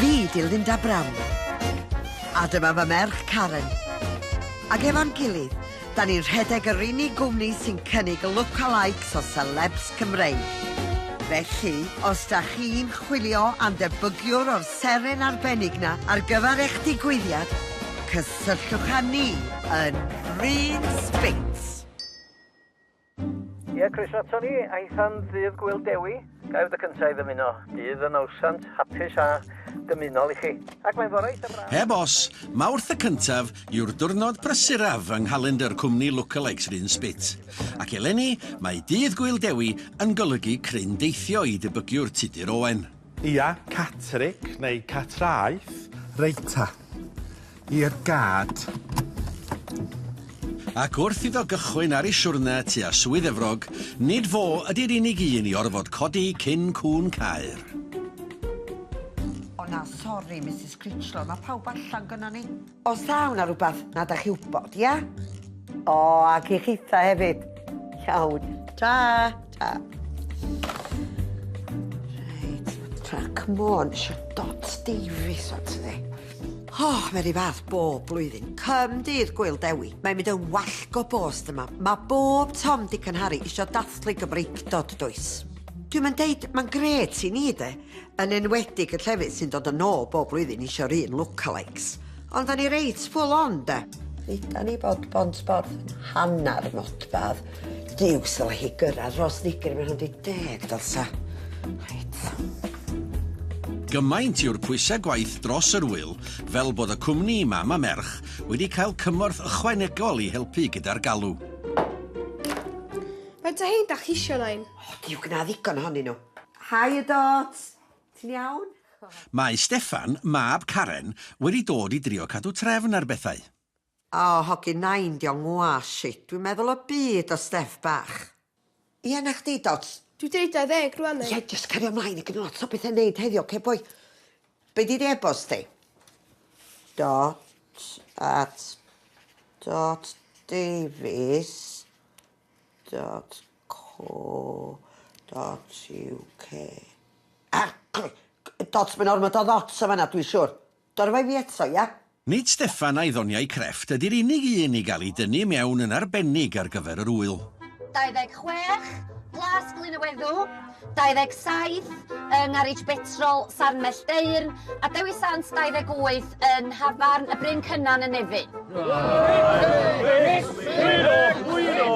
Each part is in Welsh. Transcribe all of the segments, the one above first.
Fi di Linda Brown. A dyma fy merch Karen. Ac efo'n gilydd, da ni'n rhedeg yr unig gwmni sy'n cynnig lookalikes o celebs Cymreig. Felly, os da chi'n chwilio am debygiwr o'r seren arbennig na ar gyfer eich digwyddiad, cysylltwch â ni yn Bryn Speics. Ie, croeso ato ni, aethan ddydd Gwyl Dewi. Ga i fod y cyntaf i ddymuno dydd y nawsant hapus a dymunol i chi. Ac mae'n fore eitha braf. Heb os, Mawrth y cyntaf yw'r diwrnod prysuraf yng nghalendr cwmni Lookalikes Rhun Spit. Ac eleni, mae dydd Gwyl Dewi yn golygu cryn deithio i dybygiwr Tudur Owen. Ia, Catterick, neu Catraeth. Reit ta. I'r gad. Ac wrth iddo gychwyn ar ei siwrne tua Swydd Efrog, nid fo ydi'r unig un i orfod codi cyn cŵn Caer. O na, sori, Misus Critchlow, mae pawb allan gynnon ni. Os taw 'na rwbath na 'dach chi wbod, ia? O, ac i chitha hefyd. Iawn. Ta! Ta! Reit, trac môn, isio dot Davies o ti. O, mae rhy fath bob blwyddyn. Cym dydd Gwyl Dewi. Mae'n mynd yn wallgo bost yma. Mae bob Tom, Dic and Harry isio dathlu Gymreictod, does? Dwi'n mynd deud, mae'n gret i ni, de. Yn enwedig y llefydd sy'n dod yn ôl bob blwyddyn isio'r un lookalikes. Ond da ni reit full on, de? Dduda ni bod Bont Borth yn hanner modfadd. Duw, syla hi gyrraedd Rhos Ddigri mewn 20 dylsa. Reit. Gymaint yw'r pwysau gwaith dros yr ŵyl fel bod y cwmni Mam a Merch wedi cael cymorth ychwanegol i helpu gyda'r galw. Faint o hein da chi isio, Nain? O, diw gna ddigon ohonyn nhw. Haia Dot! Ti'n iawn? Mae Steffan, mab Karen, wedi dod i drio cadw trefn ar bethau. O, hogyn nain, 'di o'n ngwash shit, dwi'n meddwl y byd o Steff bach. Ie, na chdi, Dot. Dwi deu 20 rwan neu? Ie, jyst cario mlaen, a gynna lot o betha i neud heddiw, oce boi? Be 'di dy e-bost di? Dot at dot davies dot Co.uk. Ah! Cloi! Dots, mae'n ormod o ddots yn fan 'na, dwi'n siwr. Dorfa i fi eto, ia? Nid Steffan a'i ddoniau crefft ydy'r unig un i gael ei dynnu i mewn yn arbennig ar gyfer yr ŵyl. 26, Plas Glyn y Weddw. 27 yng ngarej betrol Sarnell Deyrn a Dewi Sant 28 yn Nhafarn y Bryn Cynan yn Nefyn.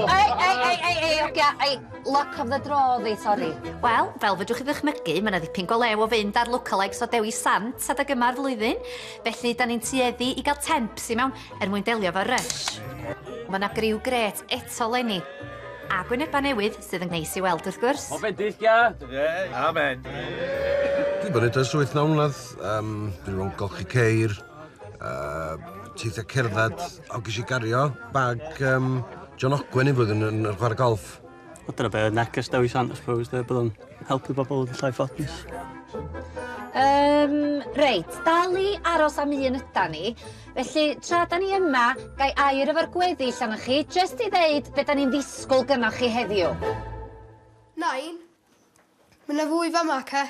Ei, ei, ei, ei, ei, ogia, ei, luck of the draw ddi, sori. Wel, fel fedrwch chi ddychmygu, mae yna ddipyn go lew o fynd ar lookalikes o Dewi Sant adeg yma'r flwyddyn, felly da ni'n tueddu i gael temps i mewn er mwyn delio efo'r rush. Mae yna griw gret eto 'leni. A gwynebau newydd sydd yn neis i weld wrth gwrs. O feddyll ga! Amen! Dwi wedi bod yn ers wyth naw mlynedd, yym dwi wedi bod yn golchi ceir, yy teithio cerdded, o ges i gario bag yym John Ogwen un flwyddyn yn yn chwarae golff. Wel dyna be oedd neges Dewis Sant I suppose de bod o'n helpu bobl yn llai ffodus. Yym reit, dal i aros am un ydan ni. Felly, tra da ni yma, gai air efo'r gweddill anoch chi, jyst i ddeud be da ni'n ddisgwyl gynoch chi heddiw? Nain? Mae na fwy fama, ce?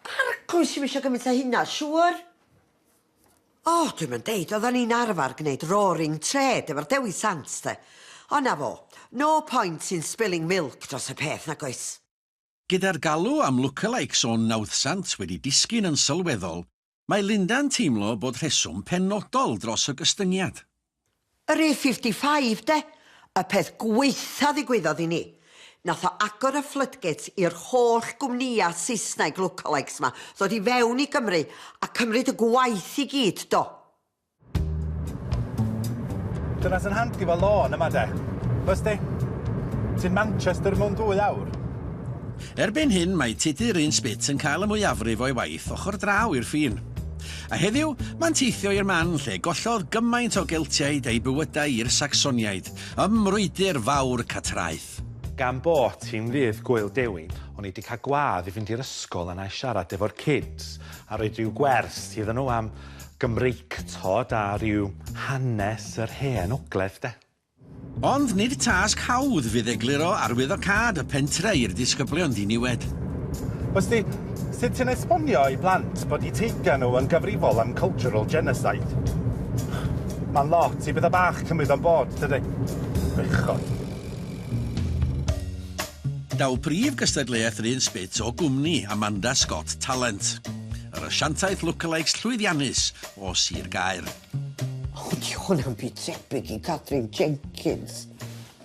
Arglwydd sy'm eisiau gymaint o hynna, siŵr? O, oh, dwi'n mynd deud, oedden ni'n arfer gwneud roaring trade efo'r Dewi Sant, de. O na fo, no point in spilling milk dros y peth, nag oes? Gyda'r galw am lookalikes o'n nawddsant wedi disgyn yn sylweddol, Mae Linda'n teimlo bod rheswm penodol dros y gystyngiad. Yr A fifty five de! Y peth gwaetha ddigwyddodd i ni. Nath o agor y floodgates i'r holl gwmnïa Saesneg lookalikes ma ddod i fewn i Gymru a cymryd y gwaith i gyd, do. Dyna sy'n handi efo lôn yma de. Wes di? Ti'n Manchester mewn dwy awr. Erbyn hyn mae Tudur un Spit yn cael y mwyafrif o'i waith ochr draw i'r ffin. A heddiw, mae'n teithio i'r man lle gollodd gymaint o Geltiaid eu bywydau i'r Sacsoniaid, ym mrwydr fawr Catraeth. Gan bot hi'n ddydd Gwyl Dewi, o'n i 'di cael gwadd i fynd i'r ysgol a 'na i siarad efo'r kids a roid ryw gwers iddyn nhw am Gymreictod a rhyw hanes yr hen ogledd de. Ond nid tasg hawdd fydd egluro arwyddocâd y pentre i'r disgyblion ddiniwed. Wrth ti, sut ti'n esbonio i blant bod eu teithiau nhw yn gyfrifol am cultural genocide? Mae'n lot i bethau bach cymryd o'n bod, tydi? Bechod. Daw prif gystadleuaeth yr un sbit o gwmni Amanda Scott Talent. Yr asiantaeth lookalikes llwyddiannus o Sir Gaer. O, di hwnna'n byd tebyg i Catrin Jenkins.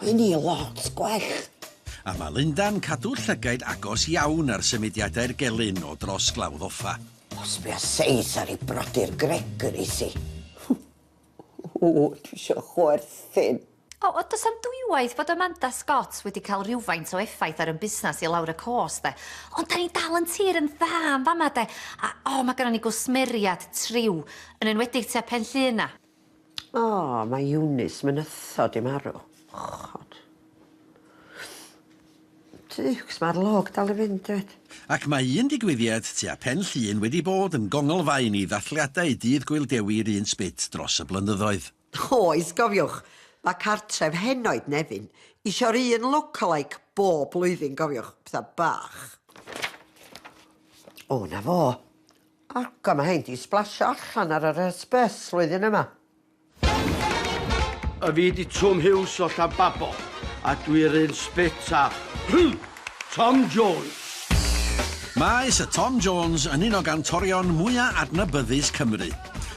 Mae ni lot gwell. A mae Linda'n cadw llygaid agos iawn ar symudiadau'r gelyn o dros Glawdd Offa. Os bia seis ar ei brodyr Gregory si. O, dwi eisiau chwerthin. O, o, does am dwywaith bod Amanda Scott wedi cael rhywfaint o effaith ar yn busnes i lawr y cost, de. Ond da ni'n dal yn tir yn dda yn fama, de. A, o, mae gyda ni gwsmeriad triw, yn enwedig tua pen llun na. O, mae Eunice mynytho di marw. Chod. Tiwcs, mae'r log dal i fynd, dweud. Ac mae un digwyddiad tua pen llun wedi bod yn gonglfaen i ddathliadau Dydd Gŵyl Dewi'r un sbit dros y blynyddoedd. Oes, cofiwch, mae cartref henoed Nefyn isio'r un lookalike bob blwyddyn, cofiwch, petha bach. O, na fo. Ac o, mae hein di splasio allan ar yr hysbys flwyddyn yma. A fi di Twm Hughes o Llanbabo, a dwi yr un sbit a... Tom Jones. Mae Sir Tom Jones yn un o gantorion mwya' adnabyddus Cymru.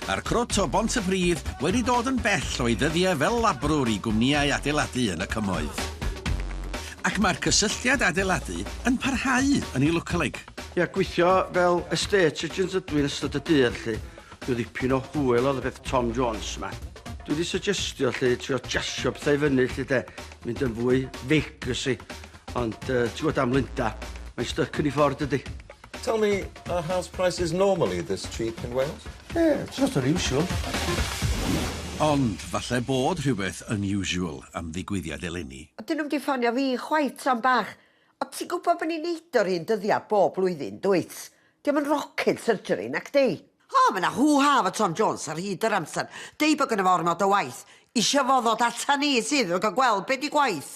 Mae'r crwt o Bontypridd wedi dod yn bell o'i ddyddiau fel labrwr i gwmnïau adeiladu yn y Cymoedd. Ac mae'r cysylltiad adeiladu yn parhau yn ei lwc-a-leg. Ia, gweithio fel estate agent ydw i yn ystod y dydd 'lly. Rhyw ddipyn o hwyl oedd y peth Tom Jones 'ma. Dwi 'di syjestio 'lly, trio jasio pethau i fyny 'lly 'de. mynd yn fwy vacus i, ond yy ti'n gwybod am Linda, mae'n styc yn ei ffordd dydy. Tell me, are house prices normally this cheap in Wales? Yeah, it's just unusual. Ond falle bod rhywbeth unusual am ddigwyddiad eleni. O, dyn nhw'm di ffonio fi chwaith tro am bach. O, ti'n gwybod bod ni'n neud o'r un dyddiad bob blwyddyn, dwyt? Dio'm yn rocket surgery, nacdi? O, mae 'na hŵ-ha efo Tom Jones ar hyd yr amser, deud bod gynno fo ormod o waith, isio fo ddod ata ni sydd yn gweld be 'di gwaith!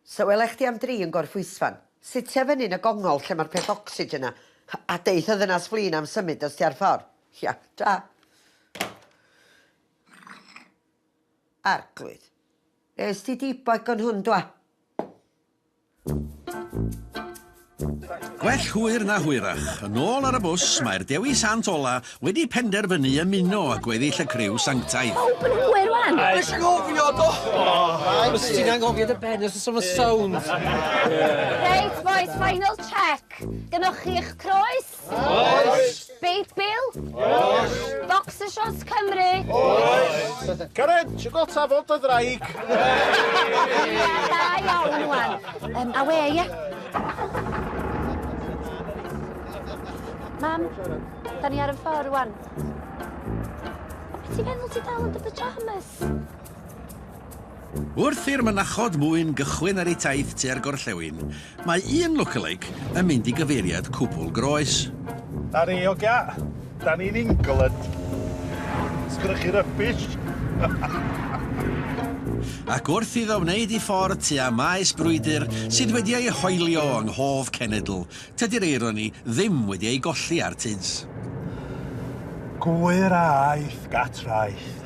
So wela chdi am dri yn Gorffwysfan. Sitja fyny yn y gongol lle ma'r peth ocsigen 'na a deith y ddynas flin am symud os ti ar ffor. Ia, ta. Arglwydd. Est ti di boi con hwn dwa. Gwell hwyr na hwyrach, yn ôl ar y bws, mae'r Dewi Sant ola wedi penderfynu ymuno â gweddill y criw sanctaidd. Pawb yn hwyr rwan! Nes i gofio do! Os ti'n anghofio dy ben os o'n sound. Reit boys, final check. Gynnwch chi eich croes, Oes! Beit Bill? Oes! Boxer Shorts Cymru? Oes! Karen, ti'n gweld ta fod dy ddraig? Da iawn, Iwan. Um, awe, ie? Mam, da ni ar y ffordd, Iwan. Ti'n meddwl ti dal yn dy pyjamas? Wrth i'r mynachod mwyn gychwyn ar eu taith tua'r gorllewin, mae un lookalike yn mynd i gyfeiriad cwbl groes. Ar ei ogia, da ni'n England. Sgynnoch chi rubbish? Ac wrth iddo wneud ei ffordd tua maes brwydr sydd wedi ei hoelio yng nghof cenedl Tydi'r eironi ddim wedi ei golli ar Tuds. Gŵyr a aeth gat-raeth,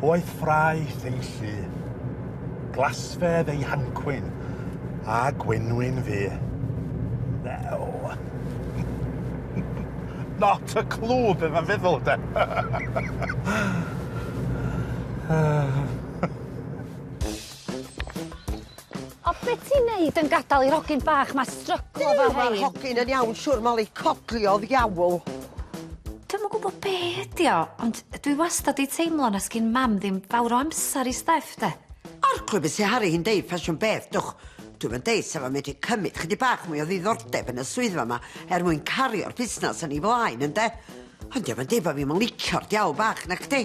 oedd ffraeth ei llu, glasfedd ei hancwyn, a gwenwyn fu. Now. Not a clue be mae'n feddwl, de? O be' ti'n neud yn gadal i'r hogyn bach 'ma stryglo efo rhein? Ma'r hogyn yn iawn siŵr Moli, codli o ddiawl. Dwi'm yn gwbo be' ydi o ond yy dwi wastad 'di teimlo na sgin mam ddim fawr o amsar i Steff 'de. Arglwydd be' sy haru hi'n deud ffasiwn beth dwch. Dwi'm yn deud sa fo'n medru cymyd chydig bach mwy o ddiddordeb yn y swyddfa 'ma er mwyn cario'r busnas yn ei flaen ynde? Ond dio'm yn deud bo' fi'm yn licio'r diawl bach nacdi?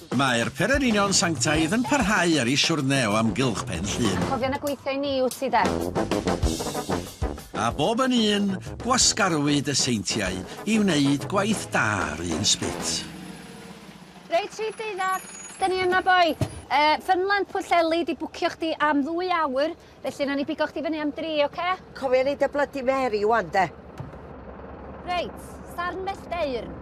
Mae'r Pererinion Sanctaidd yn parhau ar ei siwrne o amgylch Pen Llŷn. Cofio na gweithiau ni wyt ti de. A bob yn un, gwasgarwyd y seintiau i wneud gwaith da ar un sbit. Reit Rhif deuddag! Dyn ni yma boi! Yy Fynwlan Pwllheli 'di bwcio chdi am ddwy awr. Felly, nawn ni bigo chdi fyny am dri, oce? Cofia neud dy Bloody Mary ŵan, 'de. Reit, sarn mell deyrn.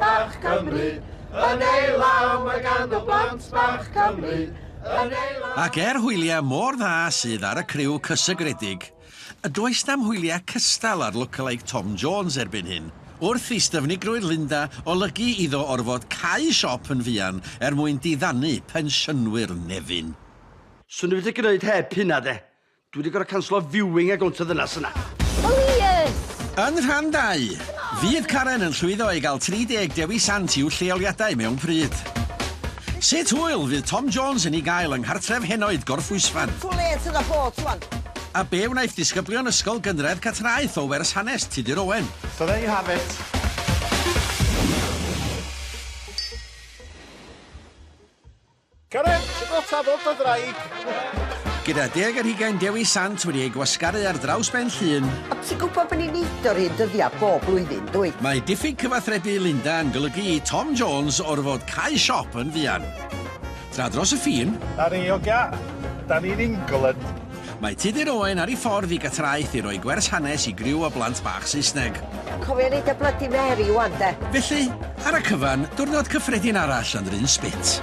bach Cymru, yn ei law mae ganddo blant bach Cymru, yn ei law... Ac er hwyliau mor dda sydd ar y criw cysegredig, A does na'm hwyliau cystal ar lookalike Tom Jones erbyn hyn. Wrth i styfnigrwydd Linda olygu iddo orfod cau siop yn fuan er mwyn diddanu pensiynwyr Nefyn. Swn i wedi gneud heb hynna de. Dwi wedi gorfod canslo viewing a gownt y ddynas yna. Plîs! Yn rhan dau, fydd Karen yn llwyddo i gael 30 Dewi Sant i'w lleoliadau mewn pryd? Sut hwyl fydd Tom Jones yn ei gael yng nghartref henoed Gorffwysfan? Too late to the boat rwan. A be wnaeth disgyblion Ysgol Gynradd Catraeth o Wers Hanes Tudur Owen? So there you have it. Cyrraedd y tafod o ddraig! Gyda deg ar hugain Dewi Sant wedi ei gwasgaru ar draws ben llun. A ti'n gwybod bod ni'n neud o'r un dyddiau bob blwyddyn, dwy? Mae diffyg cyfathrebu Linda yn golygu i Tom Jones orfod cau siop yn fuan. Tra dros y ffin. Ar ei ogia, da ni'n England. Mae Tudur Owen ar ei ffordd i Gatraeth i roi gwers hanes i griw o blant bach Saesneg. Cofia neud y Bloody Mary ŵan 'de. Felly, ar y cyfan, diwrnod cyffredin arall yn 'r un spit.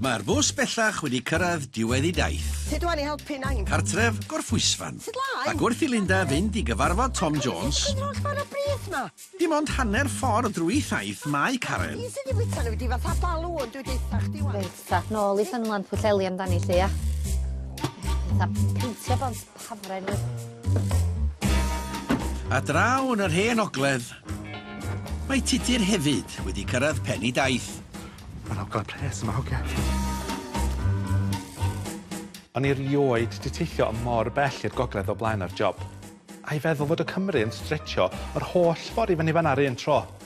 Mae'r bws bellach wedi cyrraedd diwedd ei daith. Sut ŵan i helpu Nain? Cartref, Gorffwysfan. Sut lai? Ac wrth i Linda fynd i gyfarfod Tom Jones... Yr holl ffordd o brith 'ma! Dim ond hanner ffordd drwy thaith mae Karen. Fi sydd 'di fwyta nhw i di fatha balŵn, dwi deutha chdi ŵan. Reit ta, nôl i Ffynnon Pwllheli amdani 'lly ia? Fatha peintio bont. hafren oedd... A draw yn yr hen ogledd, mae Tudur hefyd wedi cyrraedd pen i daith. Mae'n ogledd pres yma, hogia. O'n i erioed di teithio yn mor bell i'r gogledd o blaen ar job. A'i feddwl fod y Cymry yn stretsio yr holl ffordd i fyny fan'na 'r un tro.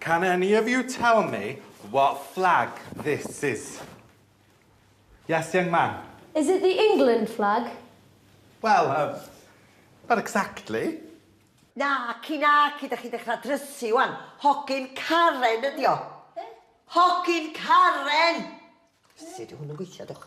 Can any of you tell me what flag this is? Yes, young man? Is it the England flag? Wel, er, not exactly. Naci, naci, dach chi'n dechrau drysu wan. Hogyn Karen ydi o. Hogyn Karen! Sut yw hwn yn gweithio, dwch?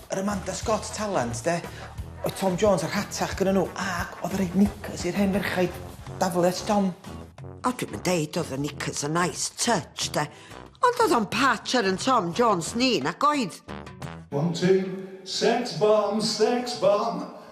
Yr Amanda Scott talent de? Oedd Tom Jones yn rhatach gyda nhw ac oedd yn rhoi knickers i'r hen ferchaid daflu at Tom. A dwi'm yn deud oedd y knickers yn nice touch de, ond oedd o'n patch ar yn Tom Jones ni nag oedd? One two, sex bomb, sex bomb!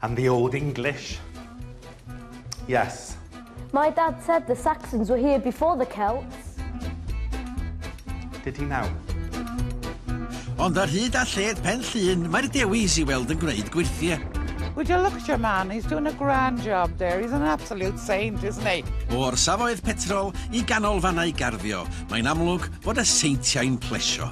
And the old English. Yes. My dad said the Saxons were here before the Celts. Did he now? Ond ar hyd a lled pen llun, mae'r dewis i weld yn gwneud gwirthie. Would you look at your man? He's doing a grand job there. He's an absolute saint, isn't he? O'r safoedd petrol i ganolfannau garddio, Mae'n amlwg fod y seintiau'n plesio.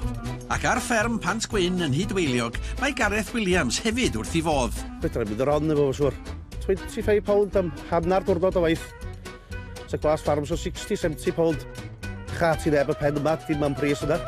Ac ar fferm Pant Gwyn yn Nhŷ Dwyliog mae Gareth Williams hefyd wrth i fodd. Fedra i fynd yr on efo fo siŵr. £25 am hanner diwrnod o waith. Sa glas ffarm so £60, £70. Cha ti neb y pen yma, dim am pris yna.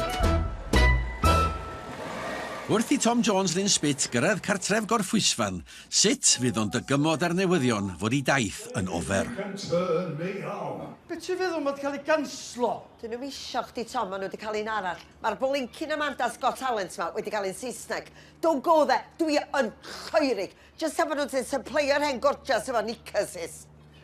Wrth i Tom Jones Lyn Spit gyrraedd cartref Gorffwysfan, Sut fydd o'n dygymod â'r newyddion fod ei daith yn ofer? Be ti'n feddwl ma di cael ei ganslo? Dyn nhw'm isio chdi Tom, ma nhw di cael un arall. Mae'r blincin Amanda's Got Talent ma wedi cael un Saesneg. Don't go there, dwi yn choerig. Jyst am fod nhw di sypleio'r hen gorgeous efo knickers is.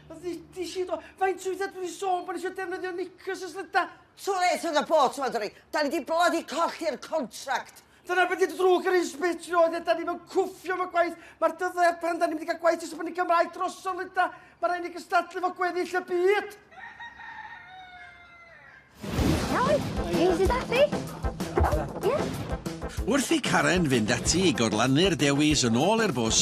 Ddudis i do, faint o weithiau dwi di sôn bod ni isio defnyddio knickers ers lygda? Too late for the boat, maen nhw'n dweud. Da ni di blydi colli'r contract. Dyna beth ydy drwg yr un spit i oedd e, da ni'n mewn cwffio fo gwaith, mae'r dyddau ar pan da ni'n mynd i gael gwaith i sef yn y Gymraeg droso'n lyda, mae rhaid ni gystadlu fo gweddill y byd. Wrth i Karen fynd ati i gorlannu'r dewis yn ôl i'r bws,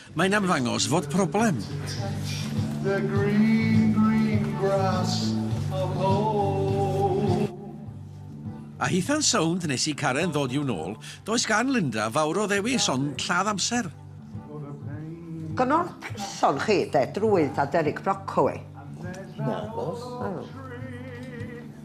Mae'n ymddangos fod problem. A hitha'n sownd nes i Karen ddod i'w nôl, does gan Linda fawr o ddewis ond lladd amser. Gwnewch person chi de, drwydd a derig broccoli. Nagos.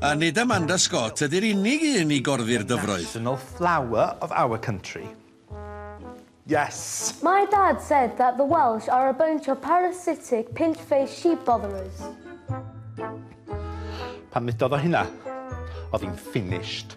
A nid Amanda Scott ydy'r unig un i gorddi'r dyfroedd. National flower of our country. Yes! My dad said that the Welsh are a bunch of parasitic pinch face sheep botherers. Pan ddudodd o hynna, oedd hi'n finished.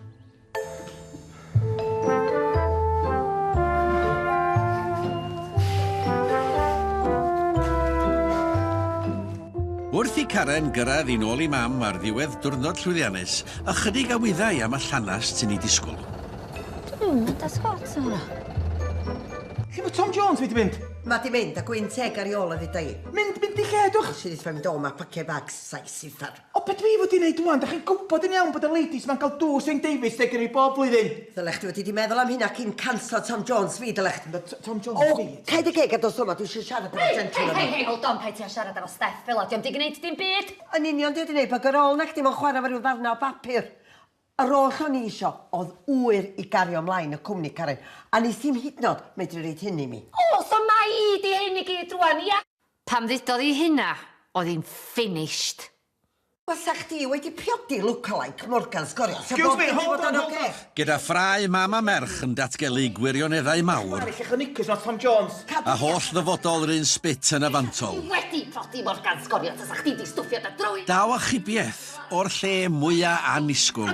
Wrth i Karen gyrraedd i'n ôl i mam ar ddiwedd diwrnod llwyddiannus, ychydig a wyddai am y llanast sy'n ei disgwyl. Dwi'n mynd â sgwat yma. Lle mae Tom Jones wedi mynd? Mae di mynd, a gwyn teg ar i ôl o ddeuda i. Mynd, mynd i lle, dwch! Sy'n eitha mynd o, mae paciau bags, saes, siffar. O be' dw i fod i neud ŵan? Dach chi'n gwbod yn iawn bod y ladies ma'n cael dŵr Saint David's Day gynno fi bob blwyddyn. Ddylech chdi wedi di meddwl am hynna cyn canslo Tom Jones fi, ddylech chdi. Be' t- Tom Jones fi? O! Cau dy geg a dos yma, dwi isio siarad efo gentleman yma. Hei! Hei! Hei! Hold on! Paid ti a siarad efo Steff fela, dio'm di gneud dim byd! Yn union, di o di neud bug ar ôl na chdi mo'n chwara efo ryw ddarna o bapur. Yr oll o'n i isio o'dd ŵyr i gario mlaen y cwmni, Karen, a nes ti'm hyd yn o'd medru roid hyn i mi. O! So mai i di hyn i gyd rŵan, ia? Pan ddudodd hi hynna, oedd hi'n finished. Basa chdi wedi priodi lookalike Morgan sgorio sa bob dim 'di bod yn ocê. Gyda ffrae mam a merch yn datgelu gwirioneddau mawr, a holl ddyfodol yr un sbit yn y fantol, daw achubiaeth o'r lle mwya' annisgwl.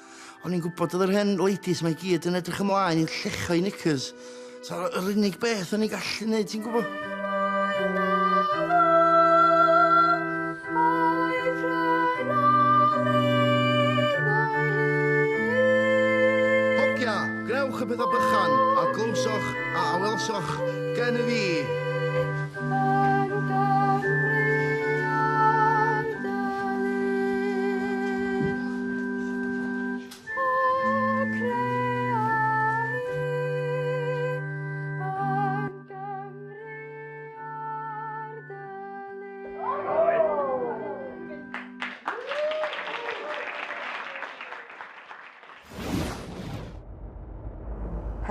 O'n i'n gwybod oedd yr hen ladies mae gyd yn edrych ymlaen i'n llecho i knickers. So, yr unig beth o'n i'n gallu neud, ti'n gwybod? Hogia, grewch y pethau bychan, a glywsoch a awelsoch gen i fi.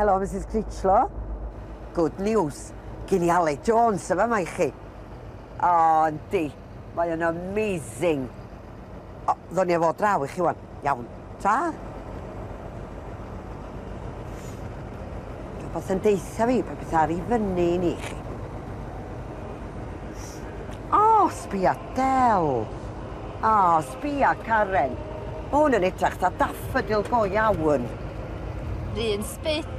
Hello, Mrs Critchlow. Good news. Gyn i Ale Jones yma mae chi. O, yndi. Mae yn amazing. O, ddo'n i efo draw i chi wan. Iawn. Ta? Rhywbeth yn deitha fi, pa beth ar i fyny i ni chi. O, sbia Del. O, sbia Karen. Mae hwn yn edrach ta daffodil go iawn. Rhy'n spit.